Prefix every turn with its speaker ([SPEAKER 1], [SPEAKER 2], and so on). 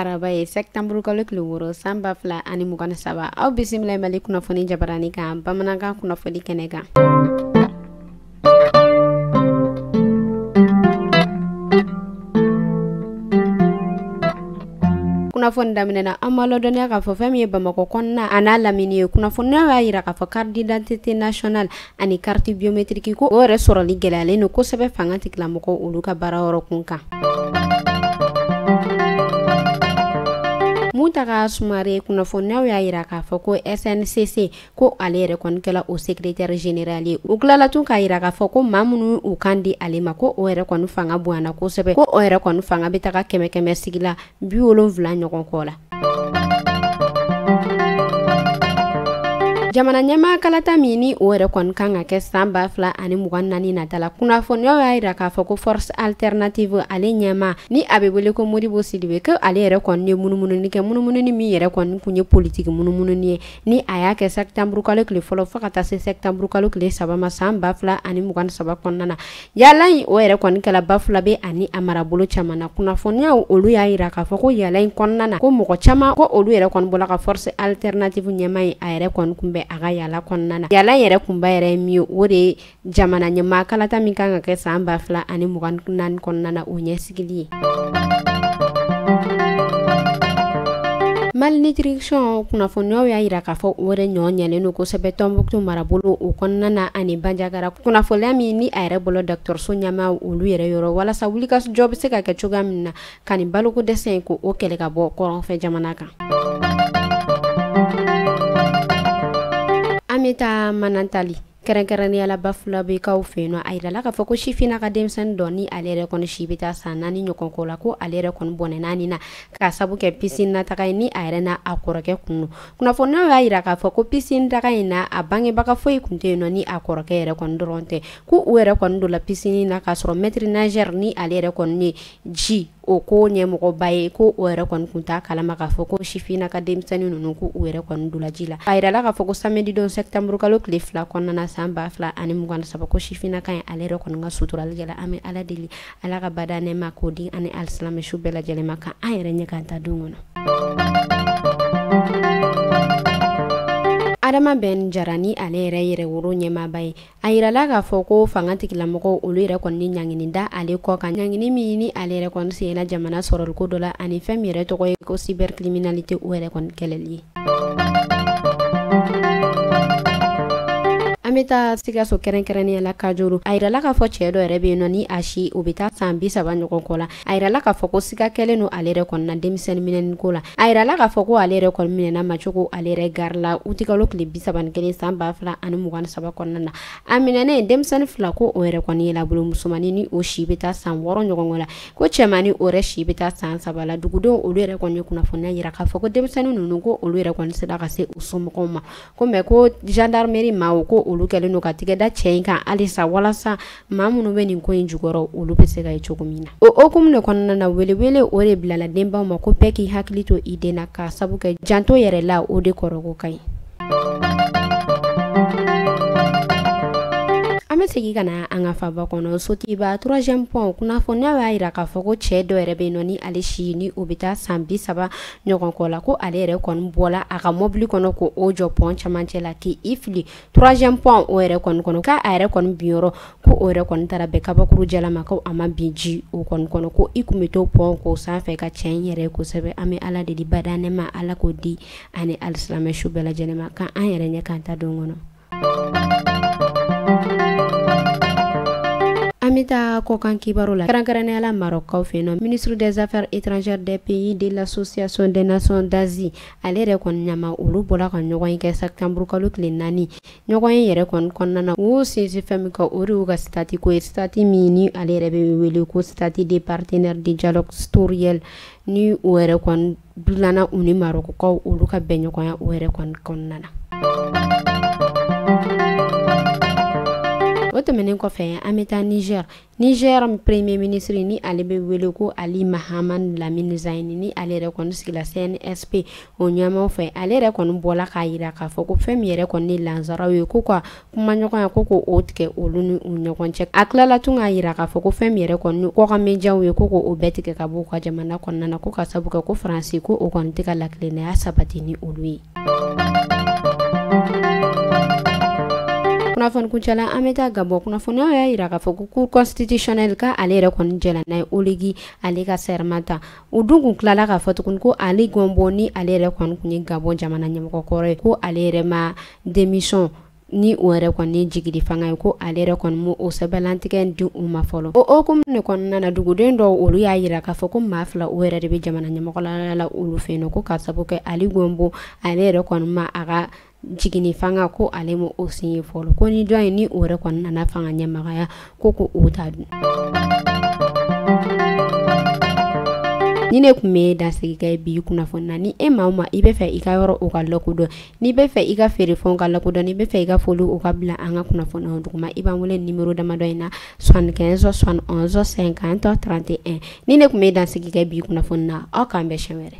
[SPEAKER 1] araba ye sɛtanburu kalo tile wɔɔrɔ san ba fila ani mugan ni saba aw bisimila mali kunnafoni jabarani kan bamanankan kunnafoni kɛnɛ kan kunnafoni daminɛna an ma lɔdɔniya k'a fɔ fɛn min ye bamakɔ kɔnɔna a n'a lamini ye kunnafoniyaw y'a yira k'a fɔ carte d'identité nationale ani carte biométrique ko o yɛrɛ sɔrɔli gɛlɛyalen don kosɛbɛ fanga tigilamɔgɔw olu ka baara yɔrɔ kun kan muntaga sumare kunnafoniyaw y'a yira k'a fɔ ko sncc ko ale yɛrɛ kɔni kɛla o secrétaire général ye u tilala tun k'a yira k'a fɔ ko maa minnu u kan di ale ma ko o yɛrɛ kɔni fanga bonyana kosɛbɛ ko o yɛrɛ kɔni fanga bɛ taga kɛmɛ kɛmɛ sigi la bi wolonfila ɲɔgɔn kɔ la jamana ɲɛmaa kalata min ni o yɛrɛ kɔni kan ka kɛ san ba fila ani mugan naani nata la kunnafoniyaw y'a yira k'a fɔ ko force alternative ale ɲɛmaa ni a bɛ wele ko modibo sidibe ko ale yɛrɛ kɔni ye munumununi kɛ munumununi min yɛrɛ kɔni kun ye politiki munumununi ye ni a y'a kɛ sɛtanburu kalo tile fɔlɔ fo ka taa se sɛtanburu kalo tile saba ma san ba fila ani mugan saba kɔnɔna na yaala in o yɛrɛ kɔni kɛla bafulabe ani a marabolo caman na kunnafoniyaw olu y'a yira k'a fɔ ko yaala in kɔnɔna na ko mɔgɔ caman ko olu yɛrɛ kɔni bɔla ka force alternative ɲɛmaa ye a yɛrɛ kɔni tun bɛ a ka yaala kɔnɔna na yaala yɛrɛ kunba yɛrɛ ye min ye o de ye jamana ɲɛmaa kalata min kan ka kɛ san ba fila ani mugan naani kɔnɔna na o ɲɛsigili ye malnutrition kunnafoniyaw y'a yira k'a fɔ o yɛrɛ ɲɔ ɲɛlen don kosɛbɛ tɔnbuktu marabolo o kɔnɔna na ani banjagara kunnafoniya min ni a yɛrɛ bɔla dɔgɔtɔrɔso ɲɛmaaw olu yɛrɛ yɔrɔ walasa wulikajɔ bɛ se ka kɛ cogoya min na ka nin baloko dɛsɛ in k'o kɛlɛ ka bɔ kɔrɔnfɛ jamana kan an bɛ taa manantali kɛrɛnkɛrɛnnenya la bafulabekaw fɛ yen nɔ a yirala k'a fɔ ko sifina ka denmisɛnnin dɔ ni ale yɛrɛ kɔni si bɛ taa san naani ɲɔgɔn kɔ la ko ale yɛrɛ kɔni bɔnɛna a ni na k'a sabu kɛ pisini na taga ye ni a yɛrɛ n'a kɔrɔkɛ kun don kunnafoniyaw y'a yira k'a fɔ ko pisini taga in na a bangebaga foyi kun tɛ yen nɔ ni a kɔrɔkɛ yɛrɛ kɔni dɔrɔn tɛ ko u yɛrɛ kɔni donna pisini na k'a sɔrɔ maître nageur ni ale yɛrɛ kɔni ye ji o ko ɲɛmɔgɔba ye ko o yɛrɛ kɔni tun t'a kalama k'a fɔ ko sifina ka denmisɛnnin ninnu ko u yɛrɛ kɔni donna ji la a yirala k'a fɔ ko samedi don sɛtanburu kalo tile fila kɔnɔna na san ba fila ani mugan saba ko sifina ka ye ale yɛrɛ kɔni ka suturali kɛla an bɛ ala deli ala ka badaa nɛɛma k'o di a ni alisilamɛ su bɛɛ lajɛlen ma k'an yɛrɛ ɲɛ k'an taa don kɔnɔ adama ben jara ni ale yɛrɛ yɛrɛwolo ɲɛmaaba ye a yirala k'a fɔ ko fanga tigilamɔgɔw olu yɛrɛ kɔni ni ɲangini da ale kɔ kan ɲangini min ni ale yɛrɛ kɔni siɲɛna jamana sɔrɔliko dɔ la ani fɛn min yɛrɛ tɔgɔ ye ko cybercriminalité o yɛrɛ kɔni kɛlɛli ye an bɛ taa sikaso kɛrɛnkɛrɛnnenya la kajuru a yirala k'a fɔ cɛ dɔ yɛrɛ bɛ yen nɔ ni a si o bɛ taa san bi saba ɲɔgɔn kɔ la a yirala k'a fɔ ko siga kɛlen don ale yɛrɛ kɔni na denmisɛnnin minɛni ko la a yirala k'a fɔ ko ale yɛrɛ kɔni minɛna macogo ale yɛrɛ gari la utikalo tile bi saba ni kelen san ba fila ani mugan ni saba kɔnɔna na a minɛnen denmisɛnnin fila ko o yɛrɛ kɔni ye labolo musomannin ni o si bɛ taa san wɔɔrɔ ɲɔgɔn la ko cɛmannin o yɛrɛ si bɛ taa san saba la dugudenw olu yɛrɛ kɔni ye kunnafoniya yira k'a fɔ ko denmisɛnnin ninnu ko olu yɛrɛ kɔni sera ka se u somɔgɔw ma ko mais ko gendarmerie maaw ko olu kɛlen don ka tigɛda cɛ in kan halisa walasa maa minnu bɛ nin ko in jukɔrɔ olu bɛ se ka ye cogo min na o hukumu de kɔnɔna na welewele o de bilala denbaw ma ko bɛɛ k'i hakili to i den na ka sabu kɛ janto yɛrɛ la o de kɔrɔko ka ɲi an bɛ segin ka na an ka faba kɔnɔ sotuba troisième pont kunnafoniya y'a yira k'a fɔ ko cɛ dɔ yɛrɛ bɛ nɔ ni ale si ni o bɛ taa san bi saba ɲɔgɔn kɔ la ko ale yɛrɛ kɔni bɔla a ka mɔbili kɔnɔ ko o jɔ pɔn camancɛ la k'i fili troisième pont o yɛrɛ kɔni kɔnɔ k'a a yɛrɛ kɔni binyɔrɔ ko o yɛrɛ kɔni taara bɛn kabakuru jalama ko a ma bin ji o kɔni kɔnɔ ko i kun bɛ to pɔn k'o sanfɛ ka tiɲɛ yɛrɛ kosɛbɛ an bɛ ala deli bada nɛɛma ala k'o di ani alisilamɛ su bɛɛ lajɛlen ma k'an an yɛrɛ ɲɛ k'an ta don kɔnɔ an bɛ taa kɔkan kibaru la kɛrɛnkɛrɛnnenya la marɔkaw fɛ yen nɔ ministre des affaires étrangères des pays de l'association des nations d'asie ale yɛrɛ kɔni ɲɛmaw olu bɔla ka ɲɔgɔnye kɛ septembre kalo tile naani ɲɔgɔnye yɛrɛ kɔni kɔnɔna na u sinsin fɛn min kan o de y'u ka sitati ko ye sitati min ni ale yɛrɛ bɛ wele ko statut de partenaire de dialogue sectoriel ni o yɛrɛ kɔni dilanna u ni marɔkɔkaw olu ka bɛnɲɔgɔnya o yɛrɛ kɔni kɔnɔna na o tɛmɛnen kɔfɛ an bɛ taa niger Niger premier ministre ni ale bɛ wele ko Ali Mahaman Lamine Zeine ni ale yɛrɛ kɔni sigila CNSP o ɲɛmaw fɛ ale yɛrɛ kɔni bɔla k'a yira k'a fɔ ko fɛn min yɛrɛ kɔni ni lansaraw ye ko ka kumaɲɔgɔnya ko ko o tigɛ olu ni u ɲɔgɔn cɛ a tilala tun k'a yira k'a fɔ ko fɛn min yɛrɛ kɔni kɔkan mediaw ye ko ko o bɛɛ tigɛ ka bɔ u ka jamana kɔnɔna na ko ka sabu kɛ ko Faransi ko o kɔni tɛ ka latilennaya sabati ni olu ye kunnafoni kuncɛla an bɛ taa gabon kunnafoniyaw y'a yira k'a fɔ ko cour constitutionnelle ka ale yɛrɛ kɔni jɛla n'a ye oligui ale ka serment ta o dun tun tilala k'a fɔ tuguni ko ali bongo ni ale yɛrɛ kɔni tun ye gabon jamana ɲɛmɔgɔkɔrɔ ye ko ale yɛrɛ ma démission ni o yɛrɛ kɔni ye jigini fanga ye ko ale yɛrɛ kɔni ma o sɛbɛnlantigɛ in di u ma fɔlɔ o hokumu de kɔnɔna na duguden dɔw olu y'a yira k'a fɔ ko maa fila o yɛrɛ de bɛ jamana ɲɛmɔgɔya la olu fɛ yen nɔ ko ka sabu kɛ Ali Gonbo ale yɛrɛ kɔni ma a ka jigini fanga ko ale ma o signé fɔlɔ ko ni dɔ in ni o yɛrɛ kɔni nana fanga ɲɛmagaya ko ko o ta dun ni ne kun bɛ dansigi kɛ bi kunnafoni na ni e maa o maa i bɛ fɛ i ka yɔrɔ o ka lakodɔn n'i bɛ fɛ i ka feerefɛnw ka lakodɔn n'i bɛ fɛ i ka foli o ka bila an ka kunnafoni o duguma i b'an wele nimero damadɔ in na soixante quinze soixante onze cinquante trente et un ni ne kun bɛ dansigi kɛ bi kunnafoni na aw k'an bɛn siɲɛ wɛrɛ.